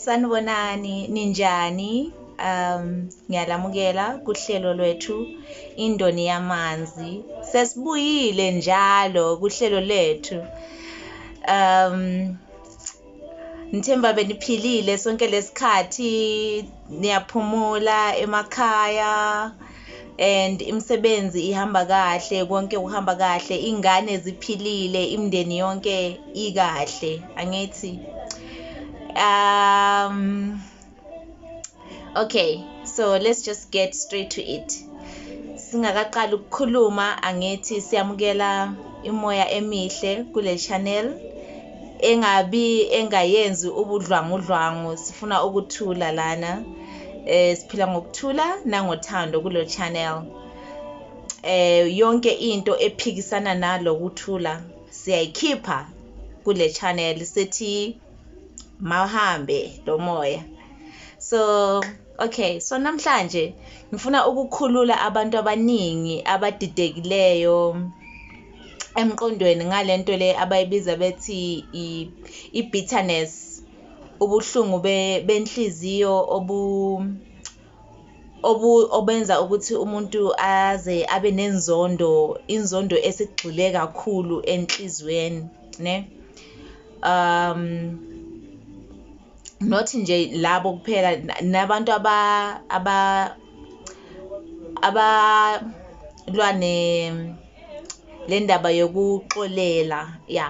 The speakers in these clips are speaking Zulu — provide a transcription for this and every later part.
sanibonani ninjani um ngiyalamukela kuhlelo lwethu indoni yamanzi sesibuyile njalo kuhlelo lethu um ngithemba beniphilile sonke lesikhathi niyaphumula emakhaya and imisebenzi ihamba kahle konke kuhamba kahle ingane ziphilile imndeni yonke ikahle angithi um okay so let's just get straight to it singakaqali ukukhuluma angithi siyamukela imoya emihle kule channel engabi engayenzi ubudlwangudlwangu sifuna ukuthula lana eh siphila ngokuthula nangothando kulo channel eh yonke into ephikisana nalo kuthula siyayikhipha kule channel sithi mawuhambe lo moya so okay so namhlanje ngifuna ukukhulula abantu abaningi abadidekileyo emqondweni ngalento le abayibiza bethi i-bitterness ubuhlungu benhliziyo obu obu obenza ukuthi umuntu aze abe nenzondo inzondo esigxile kakhulu enhlizweni ne um not nje labo kuphela nabantu aba aba abalwane le ndaba yokuxolela ya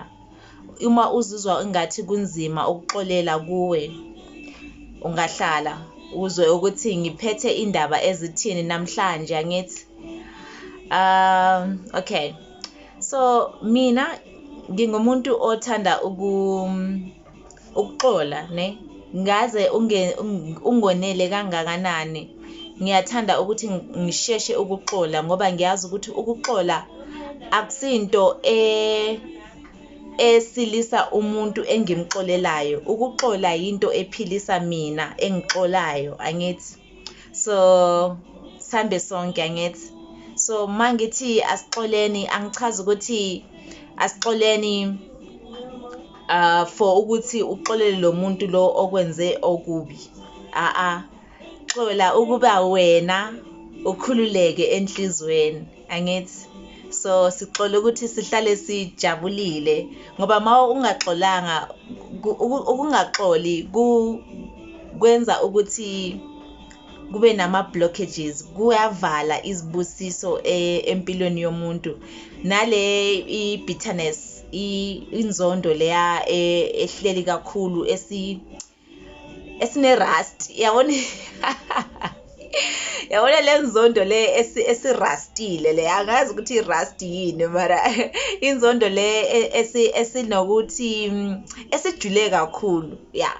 Uma uzizwa ingathi kunzima ukuxolela kuwe, ungahlala uzwe ukuthi ngiphethe indaba ezithini namhlanje angithi. Um okay. So mina ngingumuntu othanda uku ukuxola ne ngaze ungonele kangakanani ngiyathanda ukuthi ngisheshe ukuxola ngoba ngiyazi ukuthi ukuxola akusinto e esilisa umuntu engimxolelayo ukuxola yinto ephilisa mina engixolayo angithi so sambe sonke angithi so mangithi asixoleni angichazi ukuthi asixoleni uh for ukuthi uxolele lo muntu lo okwenze okubi a a xola ukuba wena ukhululeke enhlizweni angithi so sixola ukuthi sihlale sijabulile ngoba ma ungaxolanga ukungaxoli kwenza ukuthi kube nama-blockages kuyavala izibusiso e, empilweni yomuntu nale i-bitterness inzondo leya e, ehleli kakhulu esi esine-rust yabona yabona le nzondo le esirastile le angazi ukuthi i-rust yini mara inzondo le e-, esinokuthi esijule kakhulu ya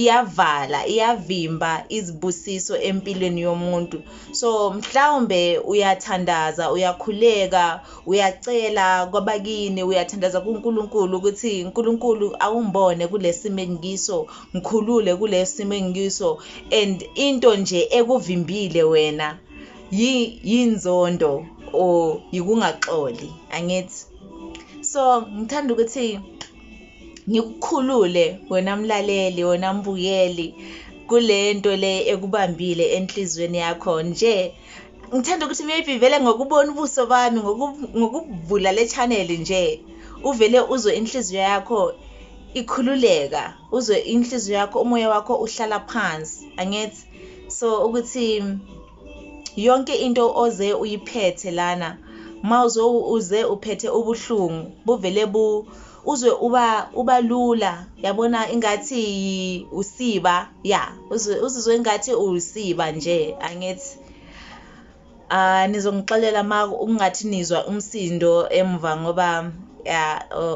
iyavala iyavimba izibusiso empilweni yomuntu so mhlawumbe uyathandaza uyakhuleka uyacela kwabakini uyathandaza kuNkulunkulu ukuthi uNkulunkulu awungibone kulesimo engikiso ngikhulule kulesimo engikiso and into nje ekuvimbile wena yinzondo or yikungaxoli angithi so ngithanda ukuthi ngikukhulule wena mlaleli wena mbukeli kule nto le ekubambile enhliziyweni yakho nje ngithanda ukuthi maybe vele ngokubona ubuso bami ngokubhula le channel nje uvele uzwe inhliziyo yakho ikhululeka uzwe inhliziyo yakho umoya wakho uhlala phansi angithi so ukuthi yonke into oze uyiphethe lana ma uze uphethe ubuhlungu buvele bu uzwe uba uba lula yabona ingathi usiba ya uzwe uzizwe ingathi usiba nje angithi ah nizongixolela ma ungathi nizwa umsindo emva ngoba ya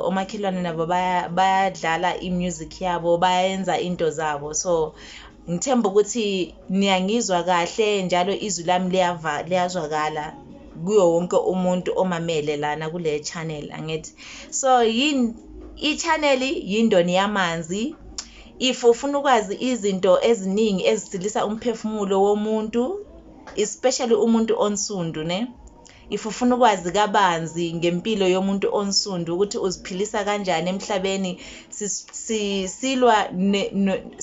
omakhelwane nabo bayadlala imusic yabo bayenza into zabo so ngithemba ukuthi niyangizwa kahle njalo izwi lami liyazwakala kuyo wonke umuntu omamele lana kule channel angithi so yini i-channel yindoni yamanzi if ufuna ukwazi izinto eziningi ezisilisa umphefumulo womuntu especially umuntu onsundu ne if ufuna ukwazi kabanzi ngempilo yomuntu onsundu ukuthi uziphilisa kanjani emhlabeni silwa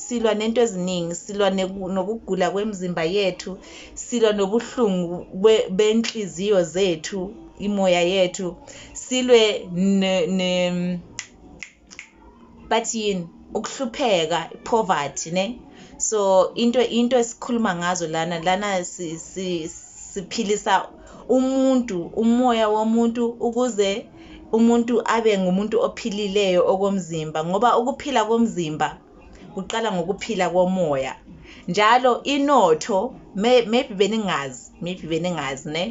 silwa nento eziningi silwa nokugula kwemizimba yethu silwa nobuhlungu benhliziyo zethu imoya yethu silwe ne, ne bathi yini ukuhlupheka poverty ne so into into esikhuluma ngazo lana lana si, si, siphilisa umuntu umoya womuntu ukuze umuntu abe ngumuntu ophilileyo okomzimba ngoba ukuphila komzimba kuqala ngokuphila komoya njalo inotho maybe beningazi maybe beningazi ne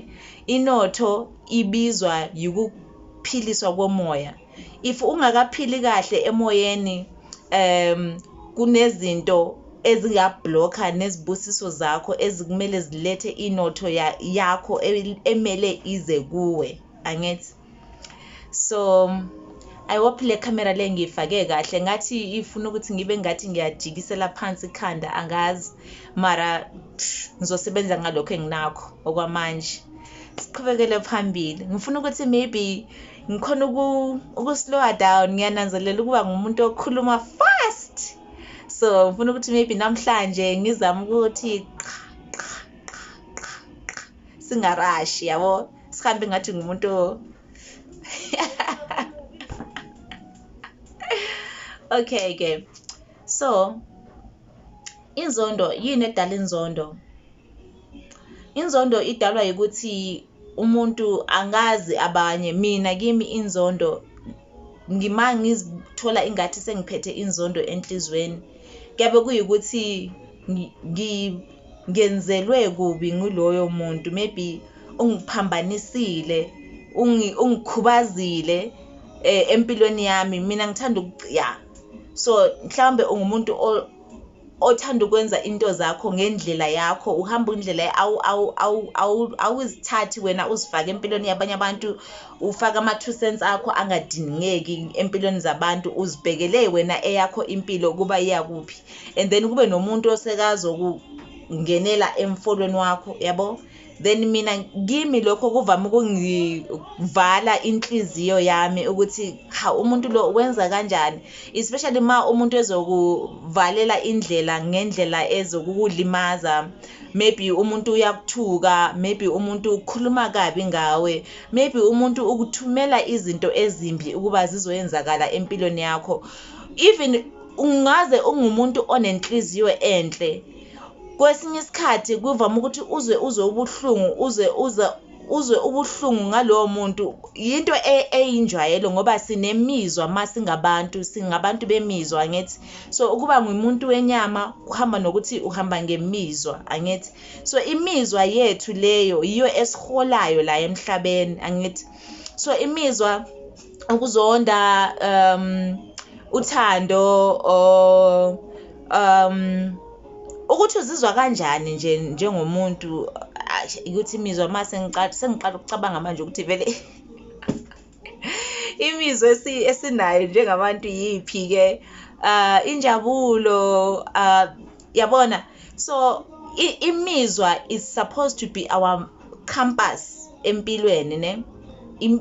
inotho ibizwa yikuphiliswa komoya if ungakaphili kahle emoyeni um kunezinto ezingabhlokha nezibusiso zakho ezikumele zilethe inotho yakho emele ize kuwe angithi so i hope le camera le ngiyifake kahle ngathi ifuna ukuthi ngibe ngathi ngiyajikisela phansi ikhanda angazi mara ngizosebenza ngalokho enginakho okwamanje siqhubekele phambili ngifuna ukuthi maybe ngikhona ukuslowa down ngiyananzelela ukuba ngumuntu okhuluma fast so ngifuna ukuthi maybe namhlanje ngizame ukuthi qha qha qha qha qha singarashi yabo sihambe ngathi ngumuntu okay ke so inzondo yini edala inzondo inzondo idalwa ukuthi umuntu angazi abanye mina kimi inzondo ngima ngizithola ingathi sengiphethe inzondo enhlizweni kuyabe kuyikuthi ngenzelwe kubi nguloyo muntu maybe ungiphambanisile ungikhubazile eh, empilweni yami mina ngithanda ya so mhlawumbe ungumuntu othanda ukwenza into zakho ngendlela yakho uhamba indlela awuzithathi wena uzifake empilweni yabanye abantu ufaka ama-two cents akho angadingeki empilweni zabantu uzibhekele wena eyakho impilo ukuba iyakuphi and then kube nomuntu osekazokungenela emfolweni wakho yabo then mina kimi lokho kuvame ukungivala inhliziyo yami ukuthi ha umuntu lo wenza kanjani especially ma umuntu ezokuvalela indlela ngendlela ezokukulimaza maybe umuntu uyakuthuka maybe umuntu ukhuluma kabi ngawe maybe umuntu ukuthumela izinto ezimbi ukuba zizoyenzakala empilweni yakho even ungaze ungumuntu onenhliziyo enhle kwesinye isikhathi kuvama ukuthi uzwe uzwe ubuhlungu uzwe uza uzwe ubuhlungu ngalowo muntu yinto e, eyinjwayelo ngoba sinemizwa uma singabantu singabantu bemizwa angithi so ukuba ngumuntu wenyama kuhamba nokuthi uhamba ngemizwa angithi so imizwa yethu leyo yiyo esiholayo la emhlabeni angithi so imizwa ukuzonda um uthando or um ukuthi uzizwa kanjani nje njengomuntu ukuthi imizwa uma sengiqala ukucabanga manje ukuthi vele imizwa esinayo njengabantu yiphi-ke um injabulo um yabona so imizwa is supposed to be our compass empilweni ne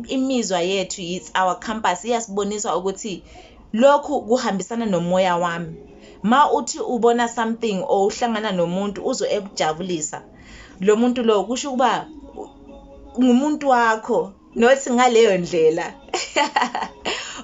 imizwa yethu it's our compass iyasibonisa ukuthi lokhu kuhambisana nomoya wami ma uthi ubona something or uhlangana nomuntu uzo ekujabulisa lo muntu lo kusho ukuba ngumuntu wakho not ngaleyo ndlela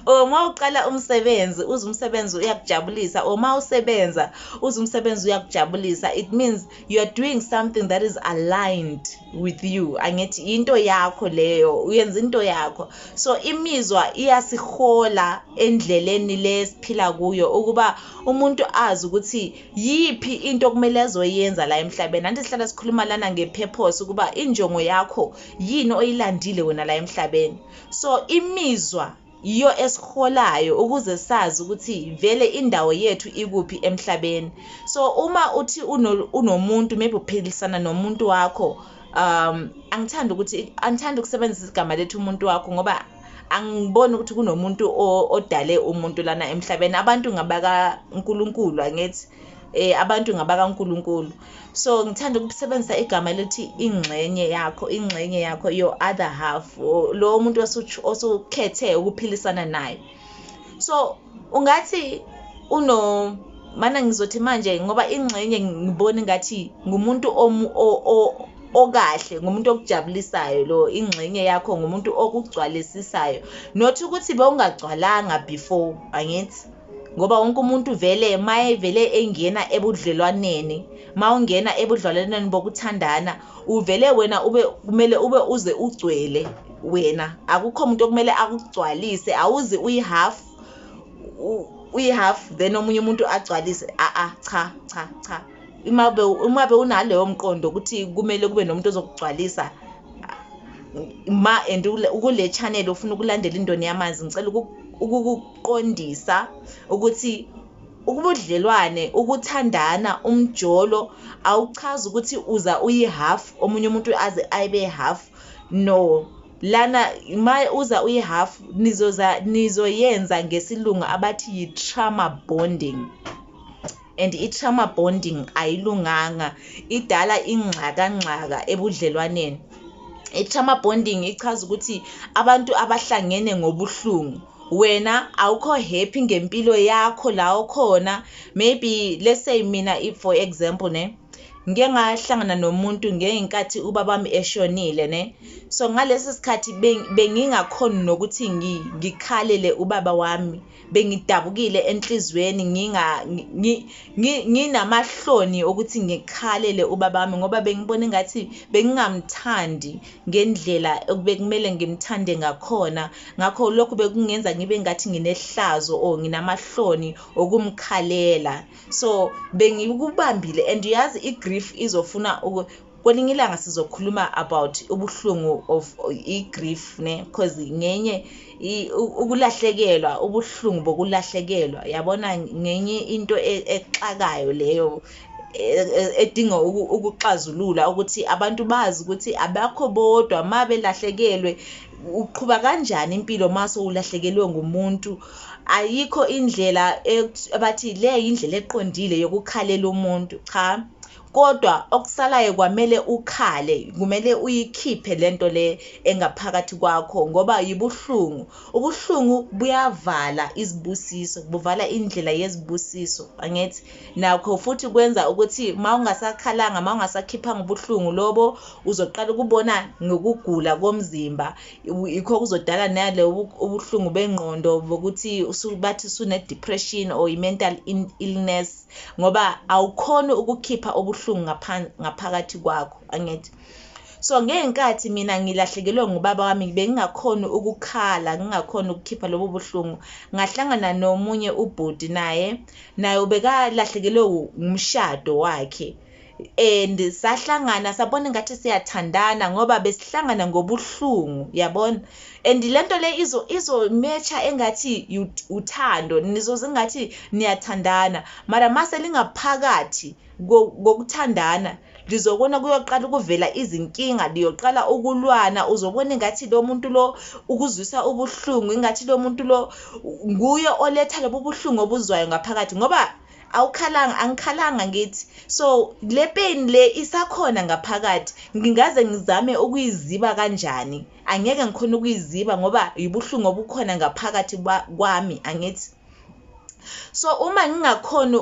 uma uqala umsebenzi uze umsebenzi uyakujabulisa uma usebenza uze umsebenzi uyakujabulisa it means you are doing something that is aligned with you angithi into yakho leyo uyenza into yakho so imizwa iyasihola endleleni le siphila kuyo ukuba umuntu azi ukuthi yiphi into okumele azoyenza la emhlabeni anti sihlala sikhuluma lana nge-purpose ukuba injongo yakho yini oyilandile wena la emhlabeni so imizwa yiyo esiholayo ukuze sazi ukuthi vele indawo yethu ikuphi emhlabeni so uma uthi unomuntu maybe uphilisana nomuntu wakho um angithandi ukuthi angithandi ukusebenzisa igama lethu umuntu wakho ngoba angiboni ukuthi kunomuntu odale umuntu lana emhlabeni abantu ngabaka uNkulunkulu angithi eh abantu ngabaka uNkulunkulu so ngithanda ukusebenzisa igama elithi ingxenye yakho ingxenye yakho your other half lo muntu osukhethe ukuphilisana naye so ungathi uno mana ngizothi manje ngoba ingxenye ngibona ngathi ngumuntu okahle ngumuntu okujabulisayo lo ingxenye yakho ngumuntu okugcwalisisayo not ukuthi bewungagcwalanga before angithi ngoba wonke umuntu vele mayevele engena ebudlelwaneni mawungena ebudlelwaneni bokuthandana uvele wena ube kumele ube uze ugcwele wena akukho umuntu okumele akugcwalise awuzi uyihalf uyihalf then omunye umuntu agcwalise a a cha cha cha uma be uma be unaleyo mqondo ukuthi kumele kube nomuntu ozokugcwalisa ma and ukule channel ufuna ukulandela indoni yamanzi ngicela uku ukuqondisa ukuthi ubudlelwane ukuthandana umjolo awuchazi ukuthi uza uyi-half omunye umuntu aze ayibe half no lana ma uza uyi-half nizoza nizoyenza ngesilungu abathi yi-trauma bonding and i trauma bonding ayilunganga idala ingxaka ngxaka ebudlelwaneni i trauma bonding ichaza ukuthi abantu abahlangene ngobuhlungu wena awukho happy ngempilo yakho la okhona maybe let's say mina if for example ne ngike ngahlangana nomuntu ngeyinkathi ubabami eshonile ne so ngalesi sikhathi bengingakhoni nokuthi ngikhalele ubaba wami bengidabukile enhliziyweni nginga nginamahloni ukuthi ngikhalele ubaba wami ngoba bengibona engathi bengingamthandi ngendlela okubekumele ngimthande ngakhona ngakho lokhu bekungenza ngibe ngathi nginehlazo or nginamahloni okumkhalela so bengikubambile and uyazi i-grief izofuna kwelinye ilanga sizokhuluma about ubuhlungu of i-grief ne because ngenye ukulahlekelwa ubuhlungu bokulahlekelwa yabona ngenye into e, exakayo leyo e, e, edinga ukuxazulula ukuthi abantu bazi ukuthi abakho bodwa uma belahlekelwe uqhuba kanjani impilo uma sowulahlekelwe ngumuntu ayikho indlela abathi le yindlela eqondile yokukhalela umuntu cha kodwa okusalayo kwamele ukhale kumele uyikhiphe lento le engaphakathi kwakho ngoba yibuhlungu ubuhlungu buyavala izibusiso buvala indlela yezibusiso angithi nakho futhi kwenza ukuthi mawungasakhalanga mawungasakhiphanga ubuhlungu lobo uzoqala ukubona ngokugula komzimba ikho kuzodala nale ubuhlungu bengqondo bokuthi usubathi sune depression or i mental illness ngoba awukhoni ukukhipha ubuhlungu ngaphakathi kwakho angithi so ngenkathi mina ngilahlekelwe ngubaba wami bengingakhoni ukukhala ngingakhoni ukukhipha lobo buhlungu ngahlangana nomunye ubhuti naye naye ubekalahlekelwe ngumshado wakhe and sahlangana sabona ngathi siyathandana ngoba besihlangana ngobuhlungu yabona and lento le izo izomecha engathi uthando nizoze ngathi niyathandana mara mase lingaphakathi kokuthandana lizobona kuyoqala ukuvela izinkinga liyoqala ukulwana uzobona ingathi lo muntu lo ukuzwisa ubuhlungu ingathi lo muntu lo nguye oletha lobu buhlungu obuzwayo ngaphakathi ngoba awukhalanga angikhalanga ngithi so le pain le isakhona ngaphakathi ngingaze ngizame ukuyiziba kanjani angeke ngikhona ukuyiziba ngoba yibuhlungu obukhona ngaphakathi kwami angithi so uma ngingakhoni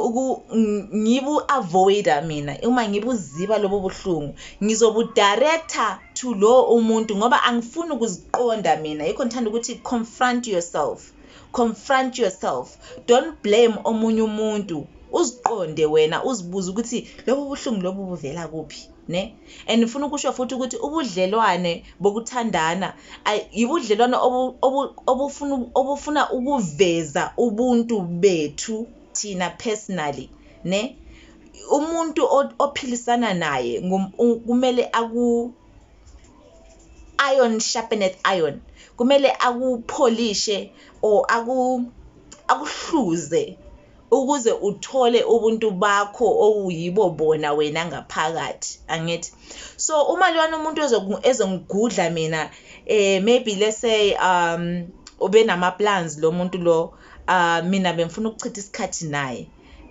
ngibu-avoida mina uma ngibuziba lobo buhlungu ngizobudirectha to lowo umuntu ngoba angifuni ukuziqonda mina yikho ngithanda ukuthi confront yourself confront yourself don't blame omunye umuntu uziqonde wena uzibuze ukuthi lobu buhlungu lobu buvela kuphi ne and ngifuna ukusho futhi ukuthi ubudlelwane bokuthandana yibudlelwane obufuna obufuna ukuveza ubuntu bethu thina personally ne umuntu ophilisana naye kumele aku iron sharpeneth iron kumele akupholishe or aku akuhluze ukuze uthole ubuntu bakho owuyibo bona wena ngaphakathi angithi so uma lona umuntu ezongigudla mina eh maybe let's say um ubenama plans lo muntu lo uh mina bengifuna ukuchitha isikhathi naye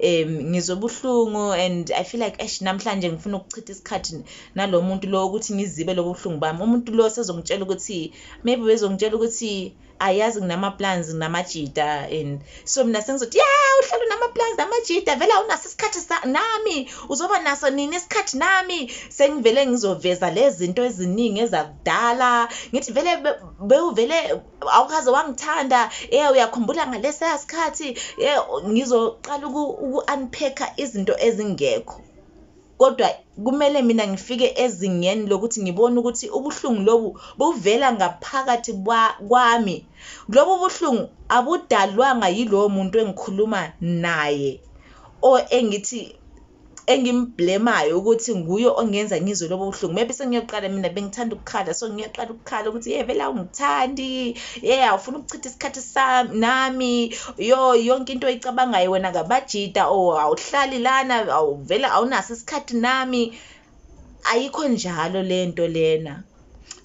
um ngizwe ubuhlungu and i feel like esh namhlanje ngifuna ukuchitha isikhathi nalo muntu lo ukuthi ngizibe lobo buhlungu bami umuntu lo sezongitshela ukuthi maybe bezongitshela ukuthi ayazi nginama-plans nginamajita and so mina sengizothi ya uhlala unama-plans namajita vele awunaso isikhathi nami uzoba naso nini isikhathi nami sengivele ngizoveza le zinto eziningi ezakudala ngithi vele bewuvele awukaze wangithanda eh uyakhumbula ngalesa sikhathi eh ngizoqala uku-unpacker izinto ezingekho kodwa kumele mina ngifike ezingeni lokuthi ngibone ukuthi ubuhlungu lobu buvela ngaphakathi kwami lobu buhlungu abudalwanga yilowo muntu engikhuluma naye or engithi engimblemayo ukuthi nguye ongenza ngizwe lobo buhlungu maybe sengiyoqala mina bengithanda ukukhala so ngiyoqala ukukhala ukuthi ye vele awungithandi ye awufuna ukuchitha isikhathi sami nami yo yonke into oyicabangayo wena ngabajida o oh, awuhlali lana awuvele awunaso isikhathi nami ayikho njalo lento lena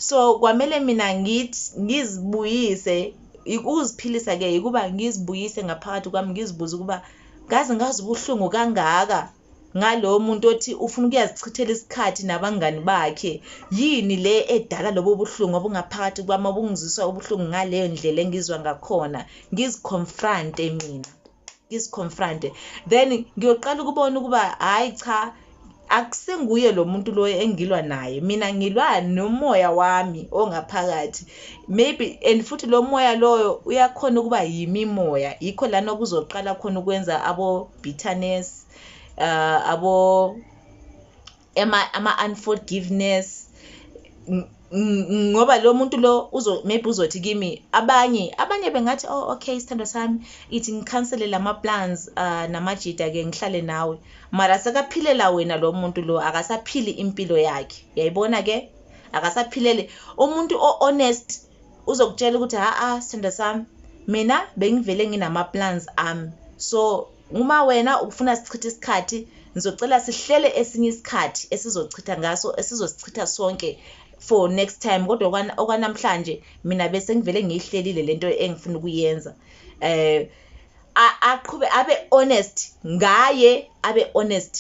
so kwamele mina ngithi ngizibuyise ukuziphilisa ke ukuba ngizibuyise ngaphakathi kwami ngizibuze ukuba ngaze ngazi ubuhlungu kangaka ngalowo muntu othi ufuna ukuyazichithela isikhathi nabangani bakhe yini le edala lobo buhlungu obungaphakathi kwami obungizwisa ubuhlungu ngaleyo ndlela engizwa ngakhona ngiziconfronte mina ngizicomfronte then ngiyoqala ukubona ukuba hhayi cha akusinguye lo muntu loyo engilwa naye mina ngilwa nomoya wami ongaphakathi maybe and futhi lo moya loyo uyakhona ukuba yimimoya yikho lana kuzoqala khona ukwenza abo-bitterness uh, abo ama ama unforgiveness ngoba lo muntu lo uzo maybe uzothi kimi abanye abanye bengathi oh okay isithando sami ithi ngikhansele lama plans uh, namajita ke ngihlale nawe mara sekaphilela wena lo muntu lo akasaphili impilo yakhe yayibona ke akasaphilele umuntu o honest uzokutshela ukuthi ha-a sithanda sami mina bengivele nginama-plans ami so uma wena ufuna sichithe isikhathi ngizocela sihlele esinye isikhathi esizochitha ngaso esizosichitha sonke for next time kodwa okwanamhlanje mina bese ngivele ngiyihlelile lento engifuna ukuyenza eh aqhube abe honest ngaye abe honest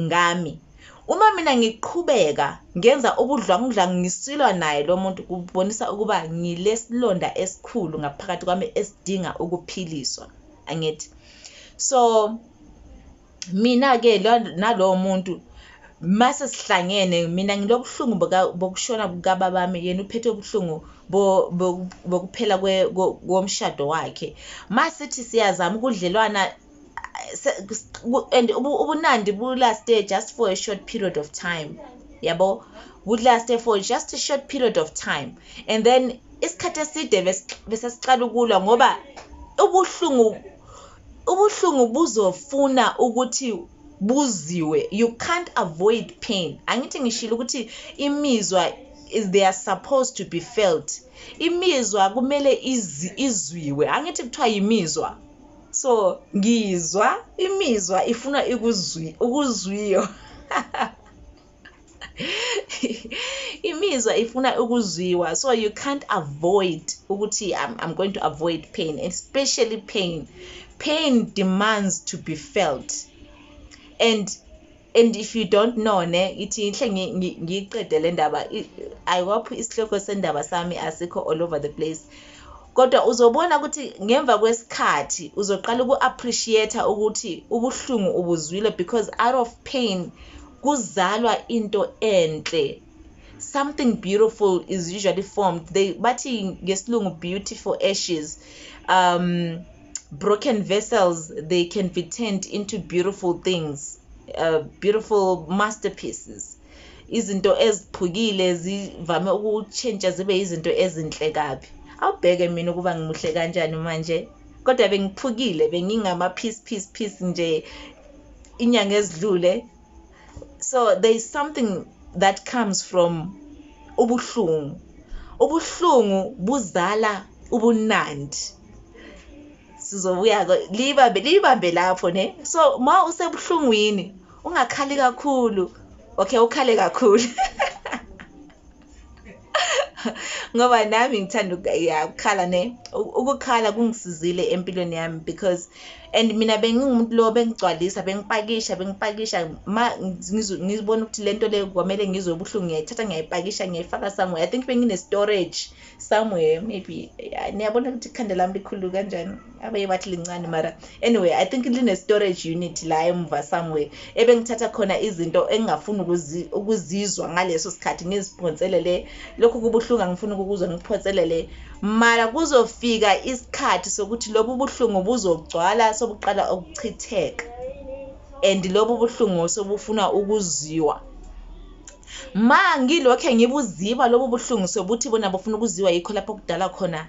ngami uma mina ngiqhubeka ngenza ubudlwangudlwangu ngisilwa naye lo muntu kubonisa ukuba ngilesilonda esikhulu ngaphakathi kwami esidinga ukuphiliswa angithi so mina-ke nalowo muntu mase sihlangene mina ngilobuhlungu bokushona kukababa wami yena uphethe ubuhlungu bokuphela komshado wakhe masithi siyazama ukudlelwana and ubunandi bulaste just for a short period of time yabo bulaste for just a short period of time and then isikhathi eside besesiqala ukulwa ngoba ubuhlungu ubuhlungu buzofuna ukuthi buziwe you can't avoid pain angithi ngishilo ukuthi imizwa is they are supposed to be felt imizwa kumele izwiwe angithi kuthiwa yimizwa so ngizwa imizwa ifuna ikuzwi ukuzwiyo imizwa ifuna ukuzwiwa so you can't avoid ukuthi I'm, i'm going to avoid pain especially pain pain demands to be felt and and if you don't know ne ithi inhle ngiyiqede le ndaba ayiwaphi isihloko sendaba sami asikho all over the place kodwa uzobona ukuthi ngemva kwesikhathi uzoqala uku-appreciate ukuthi ubuhlungu ubuzwile because out of pain kuzalwa into enhle something beautiful is usually formed they bathi ngesilungu beautiful ashes um broken vessels they can be turned into beautiful things uh, beautiful masterpieces izinto eziphukile zivame ukushintsha zibe izinto ezinhle kabi awubheke mina ukuba ngimuhle kanjani manje kodwa bengiphukile bengingama piece piece piece nje inyanga ezidlule so there is something that comes from ubuhlungu ubuhlungu buzala ubunandi sizobuya libambe libambe lapho ne so ma usebuhlungwini ungakhali kakhulu okay ukhale kakhulu ngoba nami ngithanda ya ukukhala ne ukukhala kungisizile empilweni yami because and mina bengingumuntu lo bengigcwalisa bengipakisha bengipakisha ma ngizibona ukuthi lento le kwamele ngizwe ubuhlungu ngiyayithatha ngiyayipakisha ngiyayifaka somewhere i think bengine storage somewhere maybe niyabona ukuthi ikhanda lami likhulu kanjani abanye bathi lincane mara anyway i think line-storage unit la emva somewhere ebengithatha khona izinto engingafuni ukuzizwa ngaleso sikhathi ngiziphonselele lokhu kubuhlungu angifuni ukukuzwa ngiphonselele mara kuzofika isikhathi sokuthi lobu buhlungu buzogcwala sobuqala ukuchitheka and lobu buhlungu sobufuna ukuziwa Ma ngilokhe ngibuziba lobu buhlungu sobuthi bona bafuna ukuziwa yikho lapho kudala khona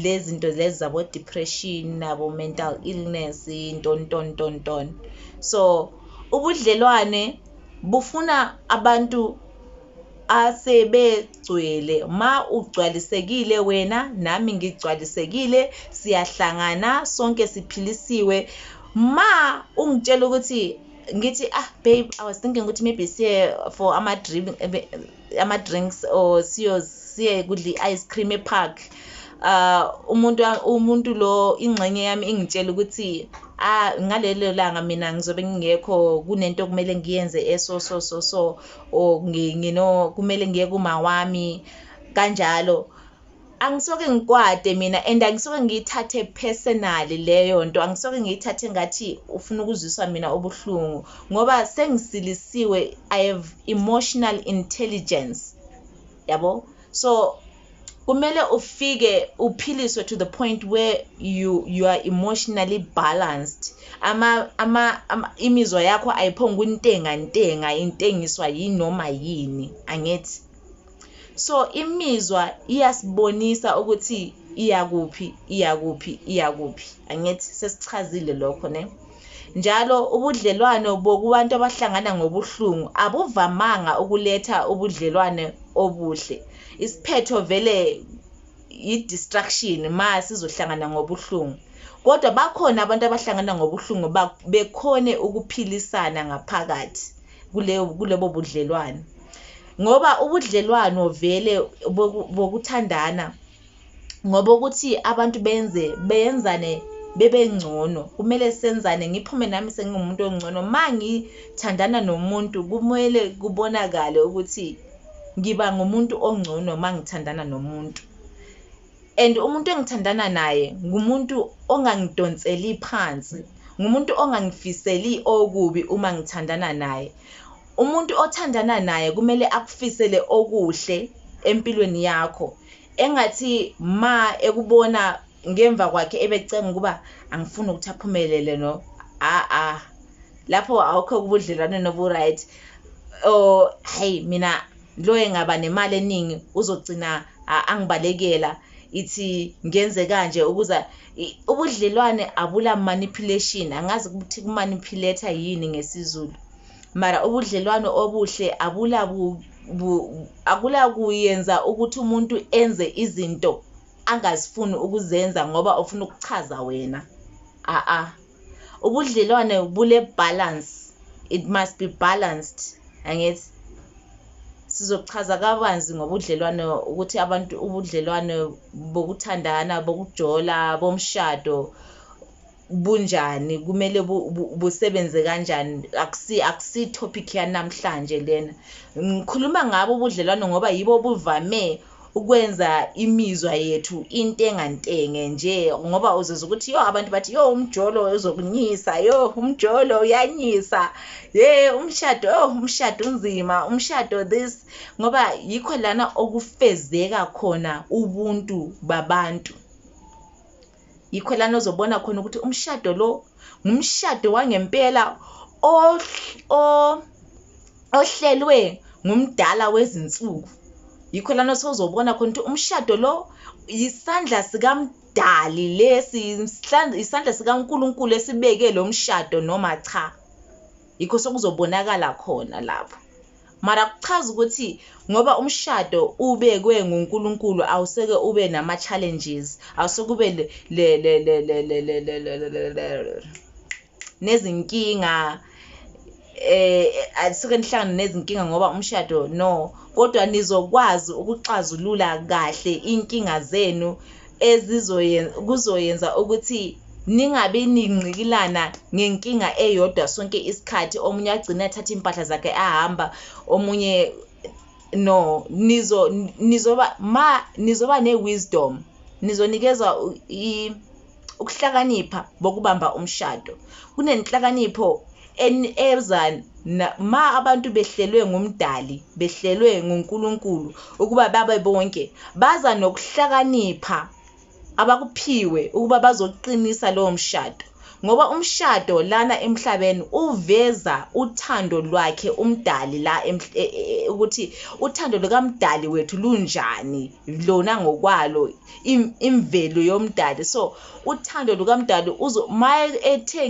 lezi zinto lezi zabo depression nabo mental illness nton nton nton nton so ubudlelwane bufuna abantu asebegcwele ma ugcwalisekile wena nami ngigcwalisekile siyahlangana sonke siphilisiwe ma ungitshela ukuthi ngithi ah babe i was thinking ukuthi maybe siye for ama-drink ama-drinks or siyo siye kudla i-ice cream epark uh umuntu umuntu lo ingxenye yami ingitshela ukuthi ah ngalelo langa mina ngizobe ngingekho kunento kumele ngiyenze eso so so so or ngino kumele ngiye kuma wami kanjalo angisoke ngikwate mina and angisoke ngiyithathe personally leyo nto angisoke ngiyithathe ngathi ufuna ukuzwiswa mina ubuhlungu ngoba sengisilisiwe i have emotional intelligence yabo so kumele ufike uphiliswe to the point where you you are emotionally balanced ama ama, ama imizwa yakho ayiphonga untenga ntenga intengiswa yinoma yini angithi So imizwa iyasibonisa ukuthi iyakuphi iyakuphi iyakuphi angithi sesichazile lokho ne njalo ubudlelwano bokubantu abahlangana ngobuhlungu abuvamanga ukuletha ubudlelwane obuhle isiphetho vele yi-distraction ma sizohlangana ngobuhlungu kodwa bakhona abantu abahlangana ngobuhlungu bekhone ukuphilisana ngaphakathi kuleyo kulobo budlelwane ngoba ubudlelwano vele bokuthandana ngoba ukuthi abantu benze beyenzane bebe ngcono kumele senzane ngiphume nami sengingumuntu ongcono ma ngithandana nomuntu kumele kubonakale ukuthi ngiba ngumuntu ongcono ma ngithandana nomuntu and umuntu engithandana naye ngumuntu ongangidonseli phansi ngumuntu ongangifiseli okubi uma ngithandana naye umuntu othandana naye kumele akufisele okuhle empilweni yakho engathi ma ekubona ngemva kwakhe ebecenga ukuba angifuni ukuthi aphumelele no a a lapho awukho kubudlelwane nobu-right or hayi mina Lo engaba nemali eningi uzogcina angibalekela ithi ngenze kanje ukuza ubudlelwane abula manipulation angazi ukuthi kumanipulate yini ngesizulu mara ubudlelwane obuhle abula akula kuyenza ukuthi umuntu enze izinto angazifuni ukuzenza ngoba ufuna ukuchaza wena a a ubudlelwane bule balance it must be balanced angithi sizochaza kabanzi ngobudlelwane ukuthi abantu ubudlelwane bokuthandana bokujola bomshado bunjani kumele busebenze kanjani akusi akusi topic yanamhlanje lena ngikhuluma ngabo ubudlelwane ngoba yibo buvame ukwenza imizwa yethu intengantenge nje ngoba uzizwa ukuthi yo abantu bathi yo umjolo uzokunyisa yo umjolo uyanyisa ye umshado yo umshado unzima umshado this ngoba yikho lana okufezeka khona ubuntu babantu Yikho lana ozobona khona ukuthi umshado lo ngumshado wangempela ohlelwe ngumdala wezinsuku yikho lana sozobona khona ukuthi umshado lo isandla sikamdali lesi isandla sikaNkuluNkulu esibeke lo mshado noma cha yikho sokuzobonakala khona lapho Mara kuchaza ukuthi ngoba umshado ubekwe nguNkulunkulu awuseke ube nama challenges awuseke ube nezinkinga eh asuke nihlangana nezinkinga ngoba umshado no kodwa nizokwazi ukuxazulula kahle inkinga zenu ezizoyenza kuzoyenza ukuthi ningabi ningqikilana ngenkinga eyodwa sonke isikhathi omunye agcine athatha impahla zakhe ahamba omunye no nizo nizoba ma nizoba ne-wisdom nizonikezwa ukuhlakanipha bokubamba umshado kunenhlakanipho enezan ma abantu behlelwe ngumdali behlelwe nguNkulunkulu ukuba babe bonke baza nokuhlakanipha abakuphiwe ukuba bazoqinisa lowo mshado ngoba umshado lana emhlabeni uveza uthando lwakhe umdali la e, e, e, ukuthi uthando lukamdali wethu lunjani lona ngokwalo imvelo yomdali so uthando lukamdali uzo maye ethe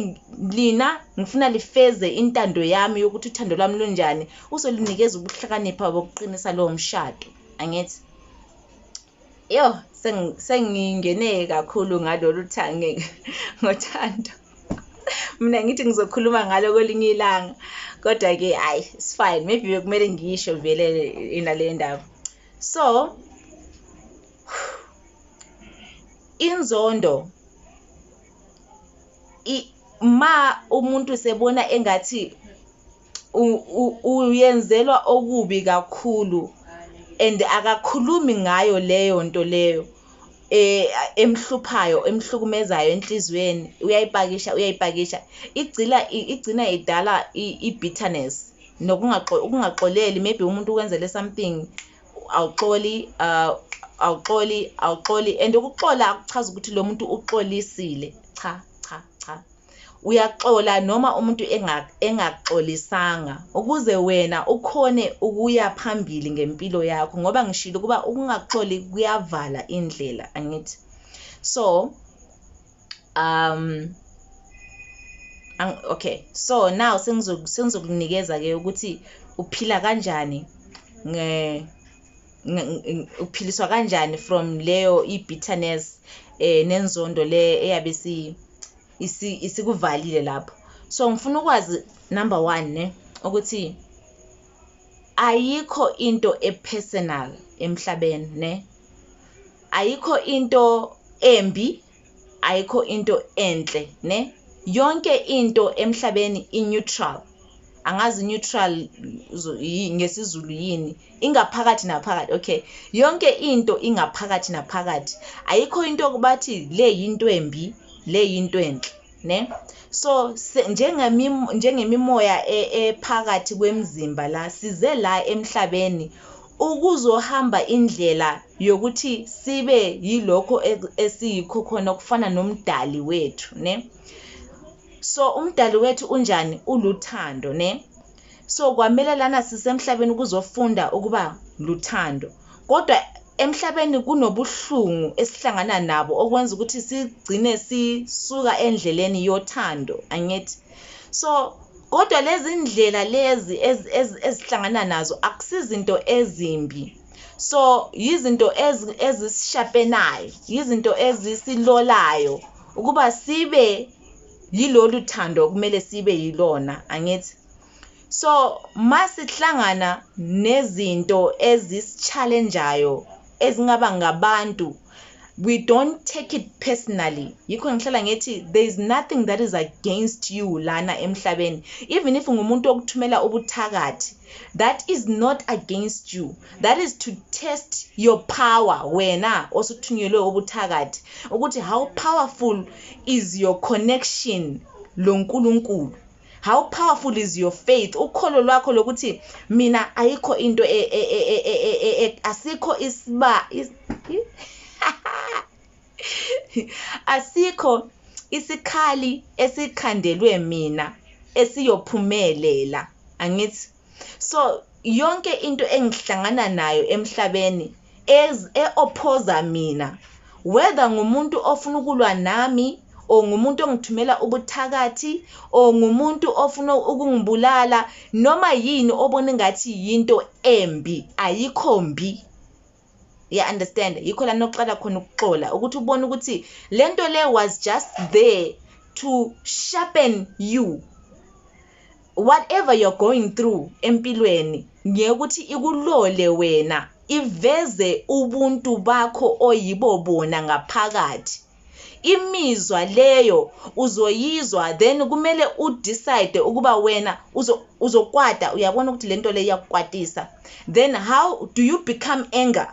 lina ngifuna lifeze intando yami yokuthi uthando lwami lunjani uzolinikeza ubuhlakanipha bokuqinisa lowo mshado angithi yo sengingene kakhulu ngalolu thange ngothando mina ngithi ngizokhuluma ngalo kwelinye ilanga kodwa-ke hhayi sifine maybe bekumele ngisho vele inale ndaba so inzondo ma umuntu sebona engathi uyenzelwa okubi kakhulu and akakhulumi ngayo leyo nto leyo eh emhluphayo emhlukumezayo enhlizweni uyayipakisha uyayipakisha igcila igcina idala i-bitterness nokungaxoleli maybe umuntu ukwenzele something awuxoli uh, awuxoli awuxoli and ukuxola akuchazi ukuthi lo muntu uxolisile cha cha cha uyaxola noma umuntu engaxolisanga ukuze wena ukhone ukuya phambili ngempilo yakho ngoba ngishilo ukuba ukungaxoli kuyavala indlela angithi so um okay so now sengizokunikeza ke ukuthi uphila kanjani nge uphiliswa kanjani from leyo i-bitterness eh nenzondo le eyabe si isikuvalile lapho so ngifuna ukwazi number 1 ne ukuthi ayikho into epersonal emhlabeni ne ayikho into embi ayikho into enhle ne yonke into emhlabeni i-neutral angazi neutral ngesizulu yini ingaphakathi naphakathi okay yonke into ingaphakathi naphakathi ayikho into okubathi le yinto embi le yinto enhle ne so njengemimoya e, ephakathi kwemzimba la size la emhlabeni ukuzohamba indlela yokuthi sibe yilokho esiyikho khona okufana nomdali wethu ne so umdali wethu unjani uluthando ne so kwamele lana sisemhlabeni kuzofunda ukuba luthando kodwa emhlabeni kunobuhlungu esihlangana nabo okwenza ukuthi sigcine sisuka endleleni yothando angithi so kodwa lezi ndlela lezi ezihlangana nazo akusizinto ezimbi so yizinto ezisishapenayo yizinto ezisilolayo ukuba sibe yilolu thando okumele sibe yilona angithi so masihlangana nezinto ezisichallengeayo ezingaba ngabantu we don't take it personally yikho ngihlala ngithi there is nothing that is against you lana emhlabeni even if ngumuntu okuthumela ubuthakathi that is not against you that is to test your power wena osuthunyelwe ubuthakathi ukuthi how powerful is your connection lo nkulunkulu how powerful is your faith ukholo lwakho lokuthi mina ayikho into e, e, e, asikho isiba Asikho isikhali esikhandelwe mina esiyophumelela angithi so yonke into engihlangana nayo emhlabeni eophoza mina whether ngumuntu ofuna ukulwa nami or ngumuntu ongithumela ubuthakathi or ngumuntu ofuna ukungibulala noma yini obona ngathi yinto embi ayikho mbi ya understand yikho la noqala khona ukuxola ukuthi ubone ukuthi lento le was just there to sharpen you whatever you're going through empilweni ngeke ukuthi ikulole wena iveze ubuntu bakho oyibo bona ngaphakathi imizwa leyo uzoyizwa then kumele udecide ukuba wena uzokwata uyabona ukuthi le nto le iyakukwatisa then how do you become anger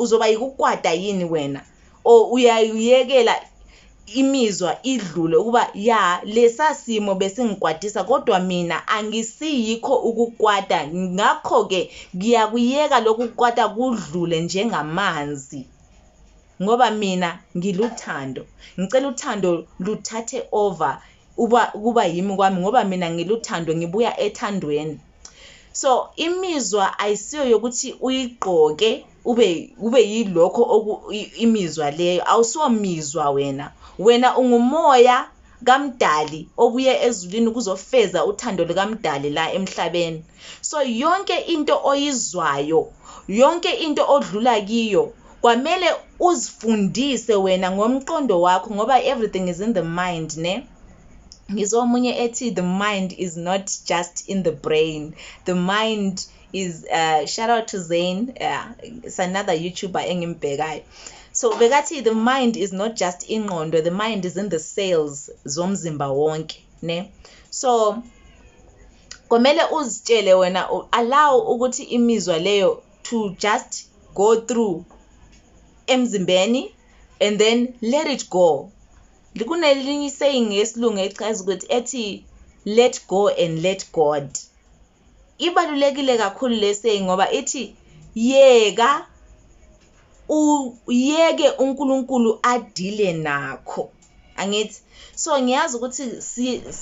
uzoba yikukwata yini wena or uyayiyekela imizwa idlule ukuba ya lesa simo besingikwatisa kodwa mina angisiyikho ukukwata ngakho-ke ngiyakuyeka lokhu kukwata kudlule njengamanzi ngoba mina ngiluthando ngicela uthando luthathe over uba kuba yimi kwami ngoba mina ngiluthando ngibuya ethandweni so imizwa ayisiyo yokuthi uyigqoke ube ube yilokho imizwa leyo awusiwo mizwa wena wena ungumoya kaMdali obuye ezulwini kuzofeza uthando lukaMdali la emhlabeni. So yonke into oyizwayo, yonke into odlula kiyo kwamele uzifundise wena ngomqondo wakho ngoba everything is in the mind ne ngizwa omunye ethi the mind is not just in the brain the mind is uh, shout out to Zayn yeah, it's another YouTuber engimbhekayo so bekathi the mind is not just ingqondo the mind is in the cells zomzimba wonke ne so komele uzitshele wena allow ukuthi imizwa leyo to just go through emzimbeni and then let it go kunelinye saying yesilungu echaza ukuthi ethi let go and let god ibalulekile kakhulu le saying ngoba ithi yeka uyeke uNkulunkulu adile nakho angithi so ngiyazi ukuthi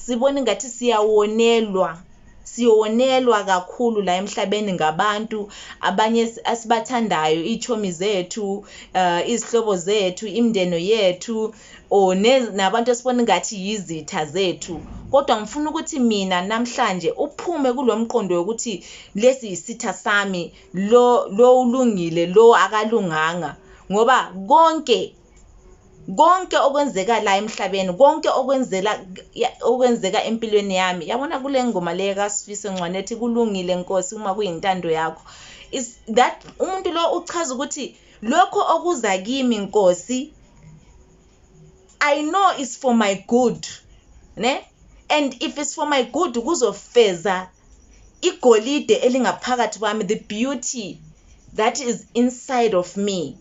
sibona ingathi siyawonelwa siyonelwa kakhulu la emhlabeni ngabantu abanye asibathandayo ichomi zethu uh, izihlobo zethu imndeno yethu or nabantu esibona ngathi yizitha zethu kodwa ngifuna ukuthi mina namhlanje uphume kulo mqondo wokuthi lesi yisitha sami lo lo ulungile lo akalunganga ngoba konke konke okwenzeka la emhlabeni konke okwenzela okwenzeka empilweni yami yabona kule ngoma le kaSifiso Ncwane ethi kulungile Nkosi uma kuyintando yakho is that umuntu lo uchaza ukuthi Lokho okuza kimi Nkosi I know is for my good ne and if it's for my good kuzofeza igolide elingaphakathi kwami the beauty that is inside of me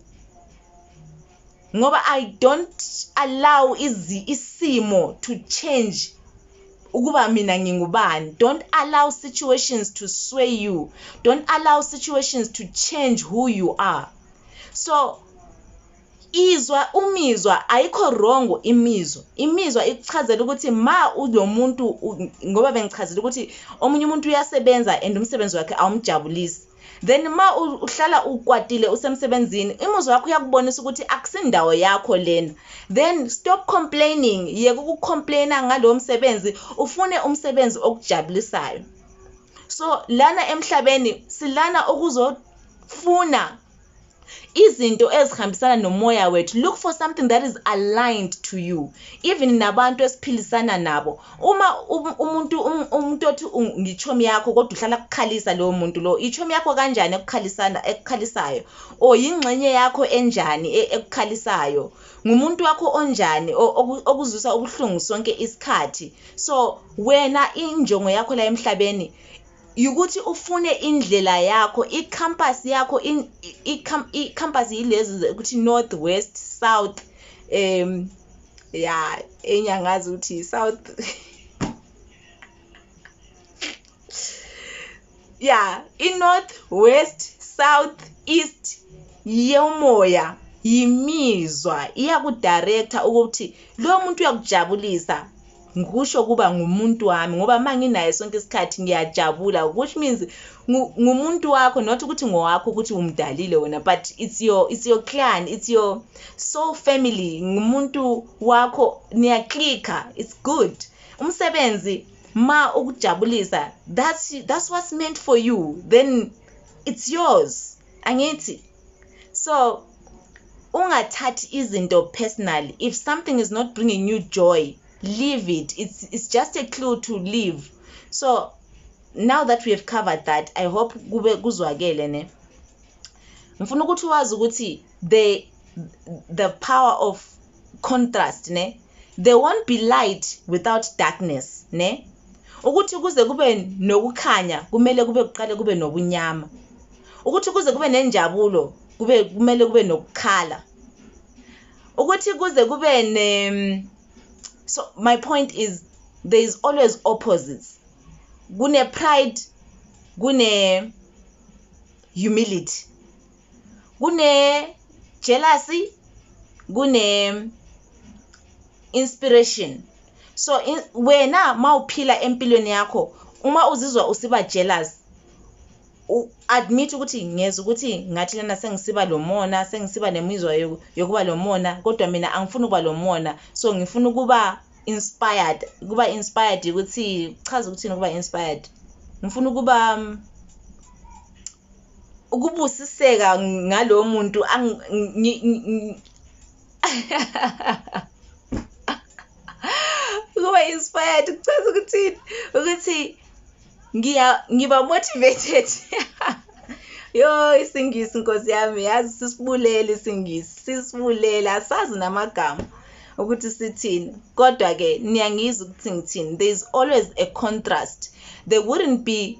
ngoba i don't allow izi isimo to change ukuba mina ngingubani don't allow situations to sway you don't allow situations to change who you are so izwa umizwa ayikho wrong imizwa imizwa ikuchazela ukuthi ma ulo muntu ngoba bengichazela ukuthi omunye umuntu uyasebenza and umsebenzi wakhe awumjabulisi then ma uhlala ukwatile usemsebenzini imuzwa wakho uyakubonisa ukuthi akusindawo yakho lena then stop complaining yeka ukucomplaina ngalowo msebenzi ufune umsebenzi okujabulisayo so lana emhlabeni silana ukuzofuna izinto ezihambisana nomoya wethu look for something that is aligned to you even nabantu esiphilisana nabo uma um, umuntu um, umuntu othi ngichomi yakho kodwa uhlala kukhalisa lowo muntu lo ichomi yakho kanjani ekukhalisana ekukhalisayo o yingxenye yakho enjani e, ekukhalisayo ngumuntu wakho onjani okuzwisa ubuhlungu sonke isikhathi so wena injongo yakho la emhlabeni yukuthi ufune indlela yakho i-compass yakho i-compass yilezi ukuthi north west south um ya enye angazi ukuthi south ya i-north west south east yomoya yimizwa iyakudirector ukuthi lo muntu uyakujabulisa ngikusho kuba ngumuntu wami ngoba uma nginaye sonke isikhathi ngiyajabula which means ngumuntu wakho not ukuthi ngowakho ukuthi umdalile wena but it's your it's your clan it's your soul family ngumuntu wakho niyaclicka it's good umsebenzi ma ukujabulisa that's that's what's meant for you then it's yours angithi so ungathathi izinto personally if something is not bringing you joy leave it it's, it's just a clue to leave so now that we have covered that i hope kube kuzwakele ne ngifuna ukuthi wazi ukuthi the the power of contrast ne there won't be light without darkness ne ukuthi kuze kube nokukhanya kumele kube kuqale kube nobunyama ukuthi kuze kube nenjabulo kube kumele kube nokukhala ukuthi kuze kube ne so my point is there is always opposites kune pride kune humility kune jealousy kune inspiration so in, wena mawuphila empilweni yakho uma uzizwa usiba jealous admit ukuthi ngeza ukuthi ngathi lena sengisiba lomona sengisiba nemizwa yokuba lomona kodwa mina angifuni ukuba lomona so ngifuna ukuba inspired kuba inspired ukuthi chaza ukuthi ukuba inspired ngifuna ukuba um, ukubusiseka ngalowo muntu ukuba inspired kuchaza ukuthi ukuthi ngiya ngiba motivated yo isingisi nkosi yami yazi sisibulele isingisi sisibulele asazi namagama ukuthi sithini kodwa ke niyangizwa ukuthi ngithini there is always a contrast there wouldn't be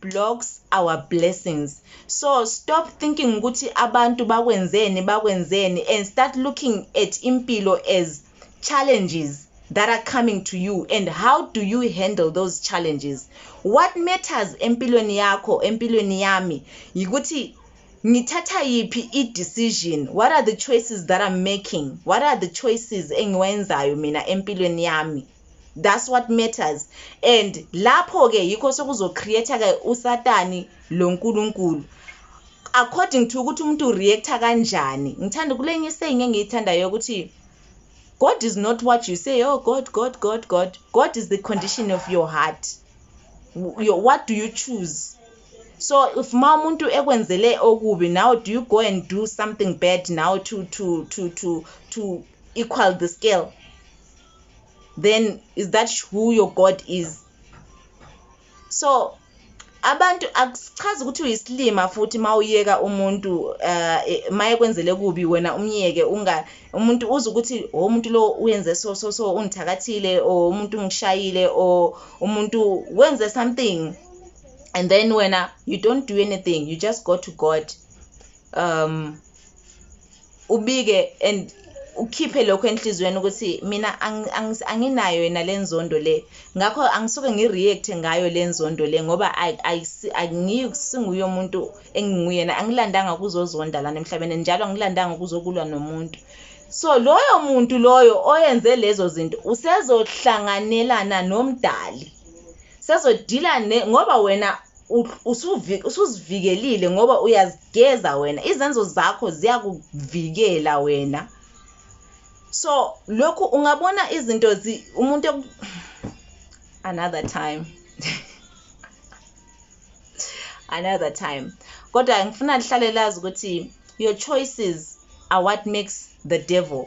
blocks our blessings so stop thinking ukuthi abantu bakwenzeni bakwenzeni and start looking at impilo as challenges that are coming to you and how do you handle those challenges what matters empilweni yakho empilweni yami yikuthi ngithatha yiphi i-decision what are the choices that i'm making what are the choices engiwenzayo mina empilweni yami that's what matters and lapho ke yikho sokuzo create ke usatani lo nkulunkulu according to ukuthi umuntu reacta kanjani ngithanda kulenye saying engiyithandayo ukuthi God is not what you say oh God God God God God is the condition of your heart your, what do you choose so if ma umuntu ekwenzele okubi now do you go and do something bad now to to to to to equal the scale then is that who your god is so abantu akusichazi ukuthi uyisilima futhi mawuyeka umuntu uh, eh, maye kwenzele kubi wena umyeke unga umuntu uze ukuthi oh, umuntu lo uyenze so so so ungithakathile or umuntu ungishayile or umuntu wenze something and then wena you don't do anything you just go to god um ubike and ukhiphe lokho enhliziyweni ukuthi mina anginayo yena le nzondo le ngakho angisuke ngi-react ngayo le nzondo le ngoba angisinguye umuntu enginguyena angilandanga ukuzozonda lana emhlabeni njalo angilandanga ukuzokulwa nomuntu so loyo muntu loyo oyenze lezo zinto usezohlanganelana nomdali Sazodila ne ngoba wena usuzivikelile ngoba uyazigeza wena izenzo zakho ziyakuvikela wena so lokhu ungabona izinto umuntu another time another time kodwa ngifuna lihlale lazi ukuthi your choices are what makes the devil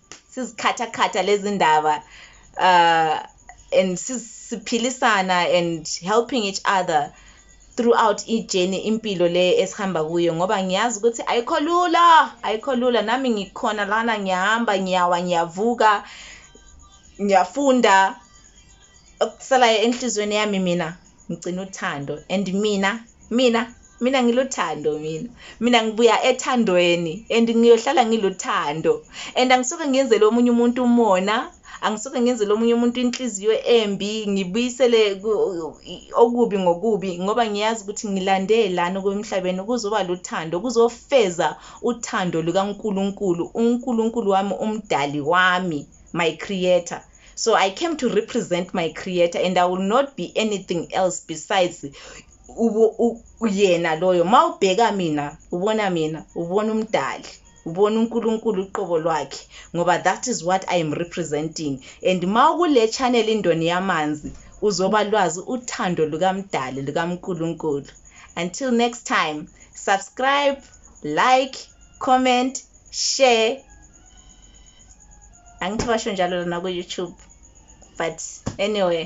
sizikhathakhatha lezi ndaba uh, and siphilisana and helping each other throughout ijeni impilo le esihamba kuyo ngoba ngiyazi ukuthi ayikho lula ayikho lula nami ngikhona lana ngiyahamba ngiyawa ngiyavuka ngiyafunda okusalayo enhlizweni yami mina ngigcina uthando and mina mina mina ngiluthando mina mina ngibuya ethandweni and ngiyohlala ngiluthando and angisuke ngiyenzele omunye umuntu umona angisuke ngiyenzele omunye umuntu inhliziyo embi ngibuyisele okubi ngokubi ngoba ngiyazi ukuthi ngilande lana okwemhlabeni kuzoba luthando kuzofeza uthando lukaNkulunkulu uNkulunkulu wami umdali wami my creator So I came to represent my creator and I will not be anything else besides uyena loyo ma ubheka mina ubona mina ubona umdali ubona uNkulunkulu uqobo lwakhe ngoba that is what I am representing and ma ukule channel indoni yamanzi uzoba lwazi uthando lukamdali lukaNkulunkulu until next time subscribe like comment share angithi basho njalo lona ku-youtube but anyway